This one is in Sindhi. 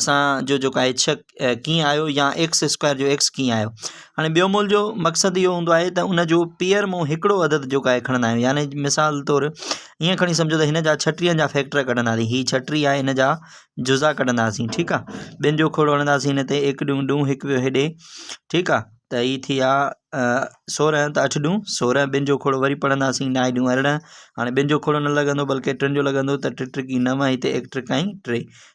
اسان جو جيڪو آھي ايڇ ڪيئن آيو يا ايڪس اسڪوائر جو ايڪس ڪيئن آيو ھاڻي ٻيو مول جو مقصد اھو ھوندو آھي ته انجو پيئر مون ھڪڙو عدد جيڪو آھي کڻندا آھيون يعنی مثال طور ائين کڻي سمجھو ته ھنجا ڇٽيھن جا فيڪٽر ڪڍنداسين ھي ڇٽيھن آھي ھنجا جزا ڪڍنداسين ٺيڪ آ ٻين جو کوڙو ھڻنداسين ھن تي ھڪ ڏون ڏون ھڪ ويو ھيڏي ٺيڪ آ ته ھي ٿي ويا سورنهن ته اٺ ڏون سورنهن ٻن جو کوڙو وري پڙھنداسين نائي ڏون ارڙهن ھاڻي ٻن جو کوڙو نه لڳندو بلڪه ٽن جو لڳندو ته ٽي ٽرڪي نو ھتي ايڪ ٽرڪائي ٽي